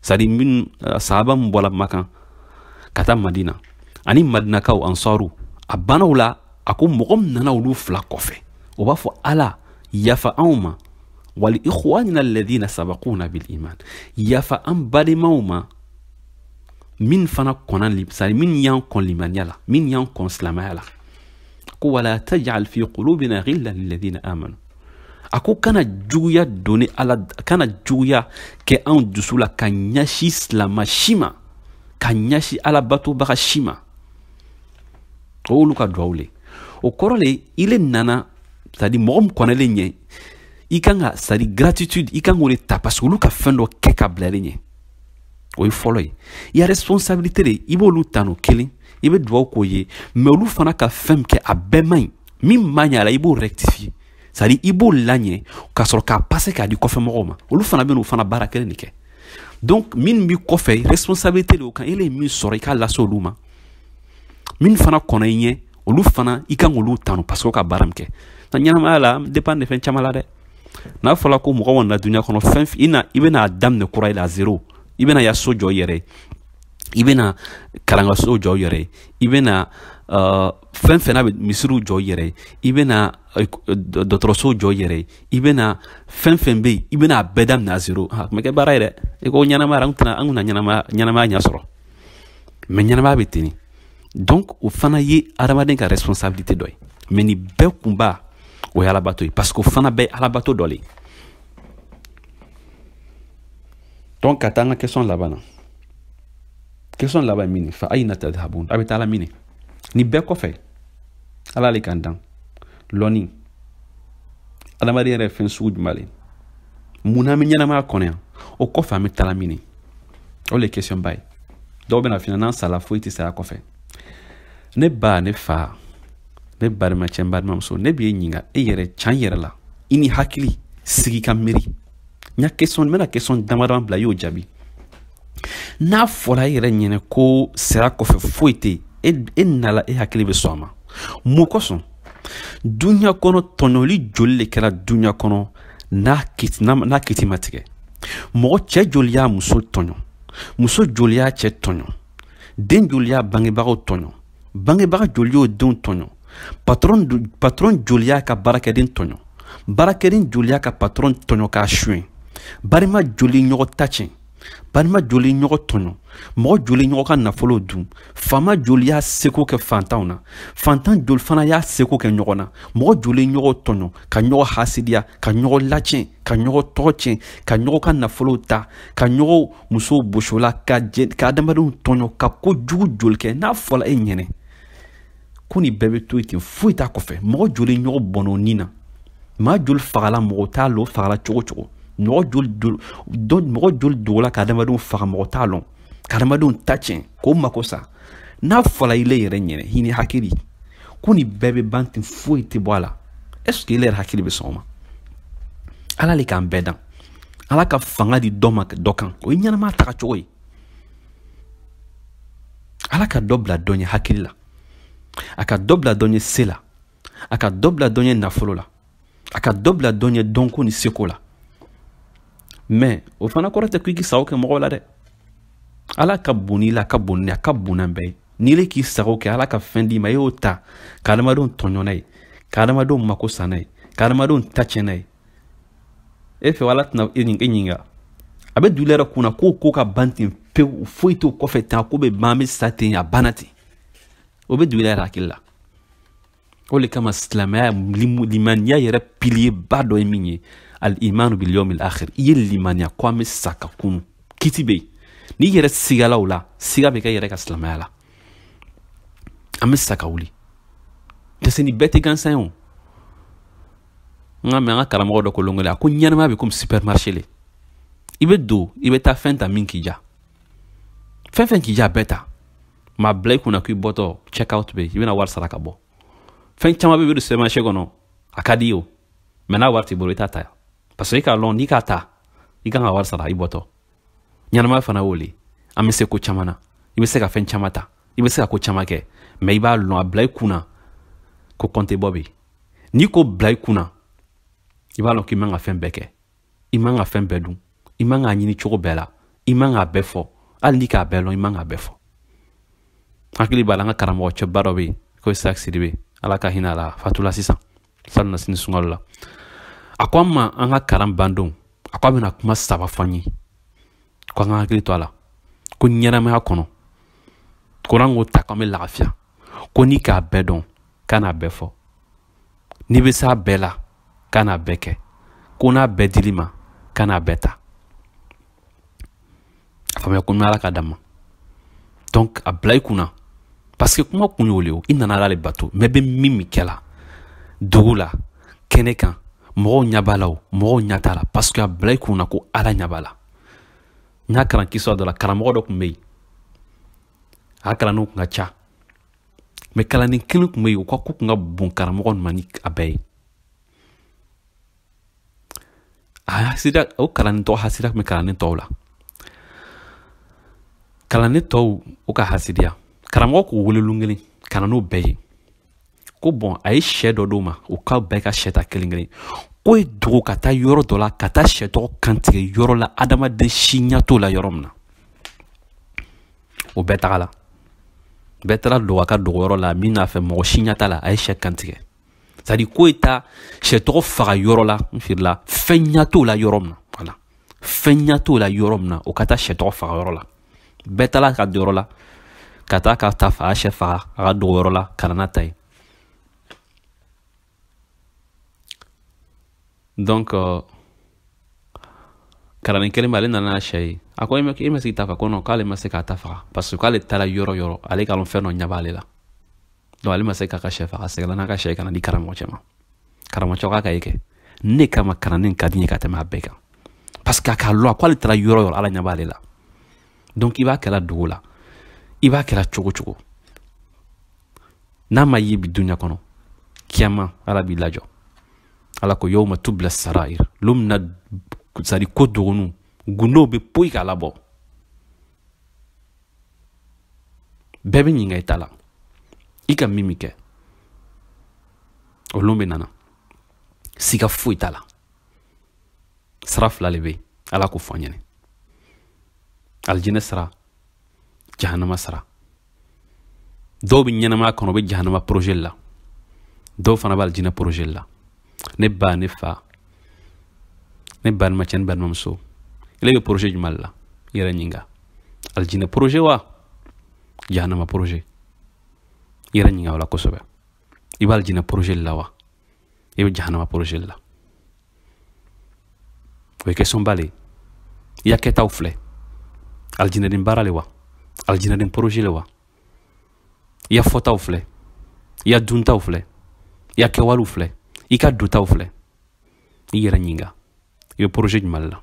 c'est à dire min eh, sahaba min bɔla makan ka taa madina ani madinakaw ansaru a banna o la a ko mɔgɔ min nana olu fila kɔfɛ o b'a fɔ ala yafa anw ma wali ikhwanina alladhina sabaquna bil iman yafa an badenmaw ma min fana kɔnna c'est à dire min y'an kɔn limaniya la min y'an kɔn silamaya la ko wala tajal fi qulubina ghillan lilladhina amanu a ko kana juguya doni ala kana juguya kɛ anw dusu la ka ɲɛsi silama si ma ka ɲɛsi alabatobaga si ma o y'olu ka duwawu le o kɔrɔ le ile nana c'est à dire mɔgɔ min kɔnlen ɲɛ i kan ka c'est à dire gratitude i kan k'o le ta parce que olu ka fɛn dɔ kɛ ka bila ɲɛ o ye fɔlɔ ye i ya responsabilité le i b'olu ta n'o kelen i bɛ dugawu k'o ye mais olu fana ka fɛn min kɛ a bɛɛ man ɲi min ma ɲɛ a la i b'o rectifier c'est à dire i b'o laɲɛ ka sɔrɔ k'a passer k'a di kɔfɛ mɔgɔw ma olu fana bɛ n'o fana baara kelen le kɛ donc min b'i kɔfɛ responsabilité le o kan e le ye min sɔrɔ i k'a lase olu ma min fana kɔnna i ɲɛ olu fana i kan k'olu tanu parce que ka baara min kɛ na ɲɛnamaya la dépend de fɛn caman la dɛ n'a fɔla ko mɔgɔ kɔni na duniya kɔnɔ fɛn i na i bɛna daminɛ kura i la zero i bɛna ya so jɔ i yɛrɛ i bɛna kalankaso jɔ i yɛrɛ i bɛna uh, fɛn fɛn n'a bɛ misiriw jɔ i yɛrɛ i bɛna uh, dɔgɔtɔrɔso jɔ i yɛrɛ i bɛna fɛn fɛn bɛ yen i bɛna a bɛɛ daminɛ à zéro a tun bɛ kɛ baara ye dɛ i ko ɲɛnamaya an tɛna an tɛna ɲɛnamaya ɲɛnamaya ɲɛ sɔrɔ mɛ ɲɛnamaya bɛ ten donc o fana ye adamaden ka responsabilité dɔ ye mɛ nin bɛɛ kunba o ye alabato ye parce que o fana bɛɛ ye alabato dɔ le ye donc ka taa an ka question laban na question laban ye min ye fa ayina tadhabun a bɛ taala min nin bɛɛ kɔfɛ ala le k'an dan lɔni adamaden yɛrɛ ye fɛn sugu jumɛn le mun na an bɛ ɲɛnamaya kɔnɔ yan o kɔfɛ an bɛ taala min o le question ba ye dɔw bɛna f'i ɲɛna n'an sala foyi tɛ saya kɔfɛ ne ba ne fa ne barimacɛ n barimamuso ne b'i ɲininka e yɛrɛ can yɛrɛ la i n'i hakili sigi ka miiri n ya question n bɛna question dama dama bila i y'o jaabi n'a fɔra e yɛrɛ ɲɛnɛ ko saya kɔfɛ foyi tɛ e e nala e hakili bɛ sɔn a ma mun kosɔn dunuya kɔnɔ tɔɲɔli joli le kɛra dunuya kɔnɔ n'a kiti n'a n'a kiti ma tigɛ mɔgɔ cɛ joli y'a muso tɔɲɔ muso joli y'a cɛ tɔɲɔ den joli y'a bangebagaw tɔɲɔ bangebaga joli y'o denw tɔɲɔ patɔrɔn patɔrɔn joli y'a ka baarakɛden tɔɲɔ baarakɛden joli y'a ka patɔrɔn tɔɲɔ k'a suɲɛ barima joli ɲɔgɔn ta cɛn balima joli ɲɔgɔn tɔɲɔ mɔgɔ joli ɲɔgɔn ka nafolo dun faama joli y'a seko kɛ fantanw na fantan joli fana y'a seko kɛ ɲɔgɔn na mɔgɔ joli ɲɔgɔn tɔɲɔ ka ɲɔgɔn hasidiya ka ɲɔgɔn lacɛn ka ɲɔgɔn tɔgɔ cɛn ka ɲɔgɔn ka nafolow ta ka ɲɔgɔn musow bos'o la ka adamadenw tɔɲɔ ka ko jugu joli kɛ n'a fɔla e ɲɛnɛ ko nin bɛɛ bɛ to yen ten foyi t'a kɔfɛ mɔgɔ joli ɲɔgɔn bɔnɔ o ni na maa joli fagala mɔgɔ t'a lɔn fagala cogo cogo mɔgɔ joli do mɔgɔ joli dogola ka adamadenw faga mɔgɔ t'a lɔn ka adamadenw ta cɛn k'o mako sa n'a fɔla i le yɛrɛ ɲɛnɛ i n'i hakili ko nin bɛɛ bɛ ban ten foyi tɛ bɔ a la est ce que i le yɛrɛ hakili bɛ sɔn o ma ala le k'an bɛɛ dan ala ka fanga di dɔ ma dɔ kan o ye ɲɛnama taga cogo ye ala ka dɔ bila dɔ ɲɛ hakili la a ka dɔ bila dɔ ɲɛ se la a ka dɔ bila dɔ ɲɛ nafolo la a ka dɔ bila dɔ ɲɛ dɔnko ni seko la mɛ o fana kɔrɔ tɛ ko i k'i sago kɛ mɔgɔw la dɛ ala ka bon i le ye a ka bon ni a ka bon n'an bɛɛ ye n'i le k'i sago kɛ ala ka fɛn d'i ma i y'o ta ka adamadenw tɔɲɔ n'a ye ka adamadenw mako sa n'a ye ka adamadenw ta cɛn n'a ye e fɛ ala tɛna e nin e ɲininka a bɛ dɔw yɛrɛ kunna k'o ko ka ban ten pewu foyi t'o kɔfɛ tan ko bɛ ban bɛ sa ten a banna ten o bɛ dɔw yɛrɛ hakili la o de kama silamɛya limaniya yɛrɛ piliyeba dɔ ye min ye al imanu bil yawmil akhir i ye limaniya ko an bɛ sa ka kunu kiti bɛ yen n'i yɛrɛ sigala o la siga bɛ k'i yɛrɛ ka silamɛya la an bɛ sa ka wuli parce que nin bɛɛ tɛ gansan ye o n ka mɛ an ka karamɔgɔ dɔ ko lon kelen a ko ɲɛnamaya bɛ komi supermarché le i bɛ don i bɛ taa fɛn ta min k'i diya fɛn fɛn k'i diya a bɛɛ ta mɛ a bila i kunna k'i bɔtɔ check out bɛ yen i bɛna wari sara ka bɔ fɛn caman bɛ bɛ don supermarché kɔnɔ a ka d'i ye o mɛ n'a wari t'i bolo i t'a ta parce que i k'a lɔn n'i k'a ta i kan ka wari sara i bɔtɔ ɲɛnamaya fana y'o le an bɛ se ko caman na i bɛ se ka fɛn caman ta i bɛ se ka ko caman kɛ mɛ i b'a lɔn a bila i kunna ko kɔntebɔ bɛ yen n'i k'o bila i kunna i b'a lɔn k'i man ka fɛn bɛɛ kɛ i man ka fɛn bɛɛ dun i man k'a ɲini cogo bɛɛ la i man k'a bɛɛ fɔ hali n'i k'a bɛɛ lɔn i man k'a bɛɛ fɔ hakili b'a la an ka karamɔgɔ cɛba dɔ bɛ yen ko isaac sidibe ala ka hinɛ a la fatula sisan salon nasini sunkalo la a ko an ma an ka kalan bandon a ko a bɛna kuma saba fɔ an ye ko an ka hakili to a la ko ɲɛnamaya kɔnɔ ko n'an k'o ta k'an bɛ lafiya ko n'i k'a bɛɛ dɔn kan'a bɛɛ fɔ n'i bɛ s'a bɛɛ la kan'a bɛɛ kɛ ko n'a bɛɛ dil'i ma kan'a bɛɛ ta a faamuya ko ala ka d'a ma donc a bila i kunna parce que kuma kun y'o le ye i nana ala le bato mɛ i bɛ min min kɛla dogo la kɛnɛ kan mɔgɔw ɲɛ b'a la o mɔgɔw ɲɛ t'a la parce que a bila i kunna ko ala ɲɛ b'a la n y'a kalan kisa dɔ la karamɔgɔ dɔ tun bɛ yen a kalandenw tun ka ca mɛ kalanden kelen tun bɛ yen o ka ko tun ka bon karamɔgɔ ma ni a bɛɛ ye a hasida o kalanden tɔw hasida tun bɛ kalanden tɔw la kalanden tɔw u ka hasidiya karamɔgɔ k'u wele lon kelen ka na n'o bɛɛ ye ko bɔn a ye sɛ dɔ d'o ma u ka bɛɛ ka sɛ ta kelen kelen ko ye dogo ka taa yɔrɔ dɔ la ka taa sɛ tɔgɔ kantigɛ yɔrɔ la adamaden si ɲɛ t'o la yɔrɔ min na o bɛɛ tagala bɛɛ taara dogo a ka dogoyɔrɔ la min n'a fɛ mɔgɔ si ɲɛ t'a la a ye sɛ kantigɛ sadi ko ye taa sɛ tɔgɔ faga yɔrɔ la n feerela fɛn ɲɛ t'o la yɔrɔ min na wala fɛn ɲɛ t'o la yɔrɔ min na o ka taa sɛ tɔgɔ faga yɔrɔ la bɛɛ taara ka don yɔrɔ la ka taa k'a ta faga sɛ faga a ka dogoyɔrɔ la ka na n'a ta ye donc kalanden kelen bɛ ale nana sɛ ye a ko e ma se k'i ta faga ko non k'ale ma se k'a ta faga parce que k'ale taara yɔrɔ yɔrɔ ale k'a dɔn fɛn dɔ ɲɛ b'ale la donc ale ma se k'a ka sɛ faga a seginna n'a ka sɛ ye ka n'a di karamɔgɔ cɛ ma karamɔgɔ cɛ k'a ka ye kɛ ne kama kalanden ka di n ye ka tɛmɛ a bɛɛ kan parce que a k'a lɔn a ko ale taara yɔrɔ yɔrɔ ala ɲɛ b'ale la donc i b'a kɛra dogo la i b'a kɛra cogo cogo n'a ma ye bi dunya kɔnɔ kiyama ala b'i lajɔ ala ko yawma tubla sarair lon min na sadi ko dogonenw gundow bɛ poyi k'a labɔ bɛɛ bɛ ɲininka i ta la i ka min min kɛ o lon bɛna na siga foyi t'a la sira fila le bɛ ala k'o fɔ ɲɛnɛ alijinɛ sira jahanama sira dɔw bɛ ɲɛnamaya kɔnɔ u bɛ jahanama projet la dɔw fana bɛ alijinɛ projet la ne ba ne fa ne balimacɛ ne balimamuso ele bɛ projet jumɛn la i yɛrɛ ɲininka alijinɛ projet wa jahanama projet i yɛrɛ ɲininka o la kosɛbɛ i bɛ alijinɛ projet la wa i bɛ jahanama projet le la o ye question ba le i ya kɛtaw filɛ alijinɛden baara le wa alijinɛden projet le wa i ya fɔtaw filɛ i ya duntaw filɛ i ya kɛwalew filɛ i ka dontaw filɛ i yɛrɛ ɲininka i bɛ projet jumɛn le la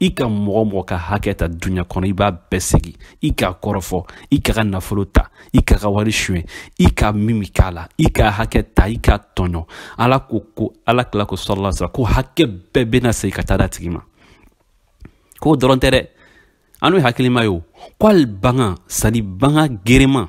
i ka mɔgɔ mɔgɔ ka hakɛ ta duɲa kɔnɔ i b'a bɛɛ segin i k'a kɔrɔfɔ i k'a ka nafolo ta i k'a ka wari suɲɛ i ka min min k'a la i k'a hakɛ ta i k'a tɔɲɔ ala ko ko ala kila ko salalahu wasalam ko hakɛ bɛɛ bɛna segin ka taa d'a tigi ma k'o dɔrɔn tɛ dɛ an n'o ye hakilima ye o ko hali bagan sadi bagan gerema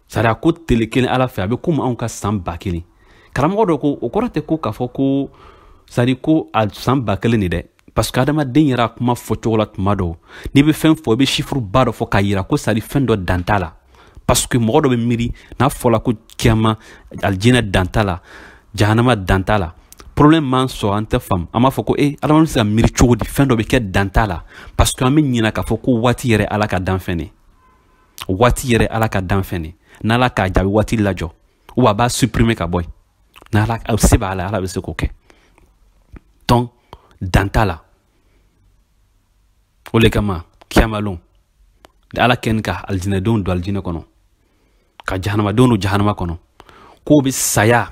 sari a ko tele kelen ala fɛ a bɛ komi anw ka san ba kelen karamɔgɔ dɔ ko o kɔrɔ tɛ ko k'a fɔ ko sari ko a san ba kelen de dɛ parce que adamaden yɛrɛ a kuma fɔ cogo la tuma dɔw n'i bɛ fɛn fɔ i bɛ chiffre ba dɔ fɔ k'a yira ko sari fɛn dɔ dan t'a la parce que mɔgɔ dɔ bɛ miiri n'a fɔla ko kiyama alijinɛ dan t'a la jahanama dan t'a la problème b'an sɔrɔ an tɛ faamu an b'a fɔ ko e adamaden bɛ se ka miiri cogo di fɛn dɔ bɛ kɛ dan t'a la parce que an bɛ ɲinɛ k'a fɔ ko waati yɛrɛ ala ka danfɛn de o waati yɛrɛ ala ka danfɛn de n'ala k'a diya a bɛ waati lajɔ ou a b'a supprimer ka bɔ yen n'ala se b'a la ala bɛ se k'o kɛ donc dan t'a la o de kama kiyamalon ala kɛni ka alijinɛdenw don alijinɛ kɔnɔ ka jahanamadenw don jahanama kɔnɔ k'u bɛ saya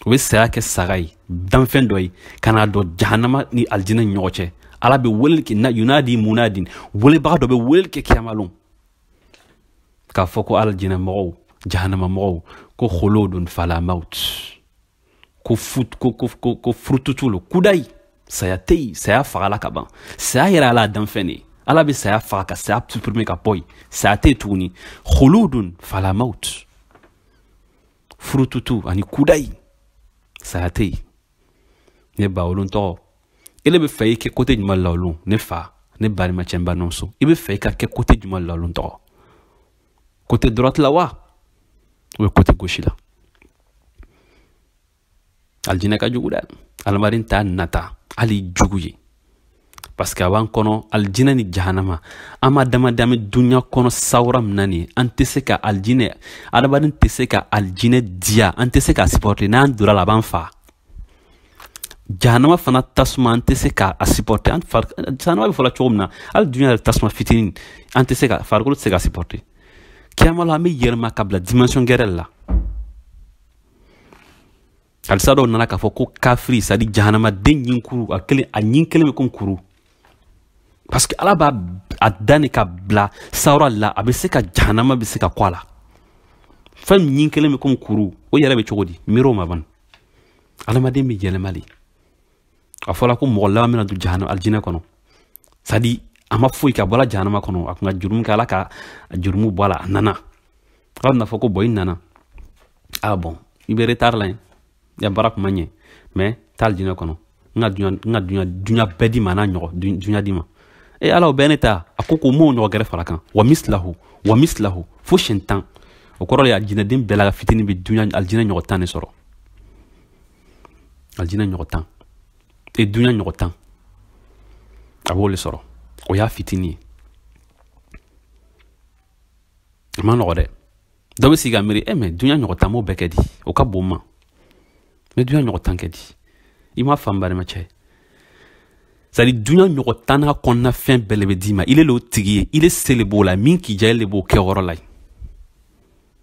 o bɛ saya kɛ saga ye danfɛn dɔ ye ka n'a jɔ jahanama ni alijinɛ ni ɲɔgɔn cɛ ala bɛ weleli kɛ na yunadi munadi welebaga dɔ bɛ weleli kɛ kiyamalon k'a fɔ ko alijinɛ mɔgɔw jahanama mɔgɔw ko huludun fala maut ko fut ko ko ko ko furututu lo kudayi saya tɛ yen saya fagala ka ban saya yɛrɛ ala danfɛn de ye ala bɛ saya faga ka saya supprimer ka bɔ yen saya tɛ yen tuguni huludun fala maut furututu ani kudayi saya tɛ yen ne ba o lon tɔgɔ ele bɛ fɛ i kɛ côté juman la o lon ne fa ne balimacɛ n balimamuso i bɛ fɛ i ka kɛ côté juman la o lon tɔgɔ côté droite la wa ou bien côté gauche la alijinɛ ka jugu dɛ adamaden t'a nata hali jugu ye parce que a b'an kɔnɔ alijinɛ ni jahanama an ma adamaden bɛ dunya kɔnɔ sawura min na nin an tɛ se ka alijinɛ adamaden tɛ se ka alijinɛ diya an tɛ se ka supporter n'an donna la a b'an fa jahanama fana tasuma an tɛ se ka a supporter an fari jahanama bɛ fɔla cogo min na hali dunya yɛrɛ tasuma fitinin an tɛ se ka farikolo tɛ se ka supporter kiyama la an bɛ yɛlɛma ka bila dimension gɛrɛ la hadisa dɔ nana k'a fɔ ko kafiri c'est à dire jahanamaden ɲin kuru a kelen a ɲin kelen bɛ ko kuru parce que ala b'a a da ni ka bila sawura la a bɛ se ka jahanama bɛ se ka kun a la fɛn min ɲin kelen bɛ ko kuru o yɛrɛ bɛ cogo di miiri o ma ban adamaden bɛ yɛlɛma de a fɔra ko mɔgɔ laban bɛna don jahanama alijinɛ kɔnɔ c'est à dire a ma foyi ka bɔla jahanama kɔnɔ a tun ka jurumu kɛ ala ka jurumu bɔ a la a nana ala bɛna fɔ ko bon i nana a bon i bɛ retard la yen i ka baara kun ma ɲɛ mais taa alijinɛ kɔnɔ n ka dunya n ka dunya dunya bɛɛ d'i ma n'a ɲɔgɔn dunya d'i ma e ala o bɛɛ ne ta a ko ko m'o ɲɔgɔn gɛrɛ fara a kan wa misilahu wa misilahu fo siyɛn tan o kɔrɔ de ye alijinɛden bɛɛ la ka fitini bɛ dunya alijinɛ ɲɔgɔn tan de sɔrɔ alijinɛ ɲɔgɔn tan e dunya ɲɔgɔn tan a b'o de sɔrɔ o y'a fitini ye a ma nɔgɔ dɛ dɔ bɛ sigi ka miiri e mais dunya ɲɔgɔn tan m'o bɛɛ kɛ di o ka bon n ma mais dunya ɲɔgɔn tan kɛ di i m'a faamu balimacɛ c'est à dire dunya ɲɔgɔn tan n'a kɔnɔna fɛn bɛɛ le bɛ d'i ma ile le o tigi ye ile se le b'o la min k'i diya ile le b'o kɛ yɔrɔ la ye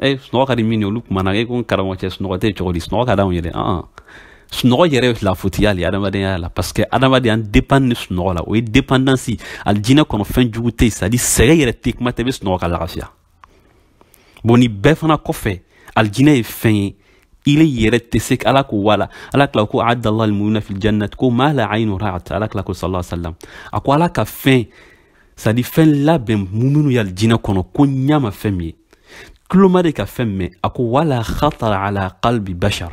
e sunɔgɔ ka di minw ye olu kumana e ko n karamɔgɔ cɛ sunɔgɔ tɛ cogo di sunɔgɔ ka di anw ye dɛ ɔn sunɔgɔ yɛrɛ ye lafutiya le adamadenya la parce que adamadenya an dépend ni sunɔgɔ la o ye dépendance alijinɛ kɔnɔ fɛn jugu tɛ yen c'est à dire sɛgɛn yɛrɛ tɛ kuma tɛ i bɛ sunɔgɔ ka lafiya bon nin bɛɛ fana kɔfɛ alijinɛ ye fɛn ye ile yɛrɛ tɛ se ala ko wala ala kila ko adallah almu'mina fil jannat ko ma la aynu ra'at ala kila ko sallallahu alaihi wasallam a ko ala ka fɛn c'est-à-dire fɛn labɛn muminu ye alijinɛ kɔnɔ ko ɲa ma fɛn min ye tulo ma deli ka fɛn mɛn a ko wala khatara ala qalbi bashar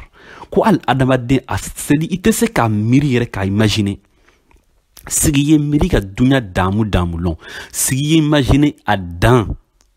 ko hali adamaden c'est-à-dire i tɛ se k'a miiri yɛrɛ k'a imagine sigi ye miiri ka dunya daamu daamu lɔn sigi ye imagine a dan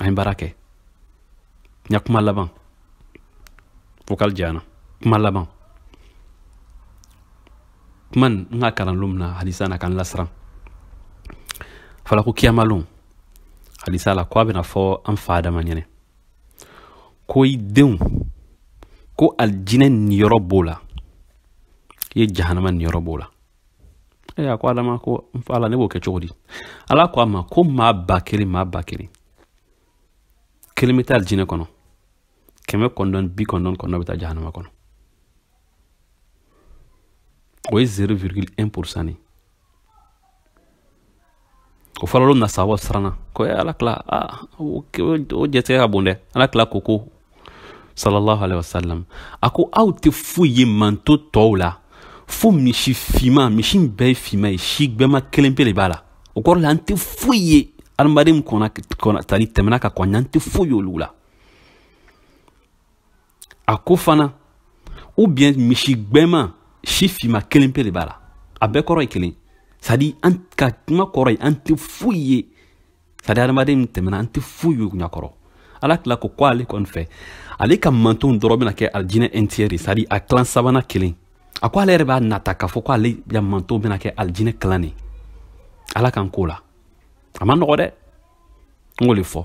an ye baara kɛ n ya kuma laban vocal janyana kuma laban kuma n ka kalan lon min na hadisa na ka n lasiran fala ko kiyamalon hadisa la ko a bɛna fɔ an fa adama ɲɛnɛ ko i denw ko alijinɛ niyɔrɔ b'o la i ye jahanama niyɔrɔ b'o la e a ko adama ko n fa ala ne b'o kɛ cogo di ala ko a ma ko maa ba kelen maa ba kelen kelen bɛ taa alijinɛ kɔnɔ kɛmɛ kɔnɔntɔn ni bi kɔnɔntɔn ni kɔnɔntɔn bɛ taa jahanama kɔnɔ o ye zéro virgule un pourcent de ye o fɔla lon min na sahabaw siranna ko ala kila o jatigɛ ka bon dɛ ala kila ko ko sallallahu alaihi wasallam a ko aw tɛ foyi ye manton tɔw la fo misi finma misi bɛɛ ye finma ye si gbɛma kelen pe de b'a la o kɔrɔ la an tɛ foyi ye adamaden kɔnɔ tali tɛmɛna ka kɔn an ɲa an tɛ foyi ye olu la a ko fana ou bien misi gbɛma si finma kelen pe de b'a la a bɛɛ kɔrɔ ye kelen c'est-à-dire an ka kuma kɔrɔ ye an tɛ foyi ye c'est-à-dire adamaden min tɛmɛna an tɛ foyi ye ɲa kɔrɔ ala kila ko ko ale kɔni fɛ ale ka mantonw dɔrɔn bɛna kɛ alijinɛ un tiers c'est-à-dire a tilan sabanan kelen a ko ale yɛrɛ b'a nata k'a fɔ ko ale ya mantonw bɛna kɛ alijinɛ tilan de ala kan ko la a man nɔgɔ dɛ n k'o le fɔ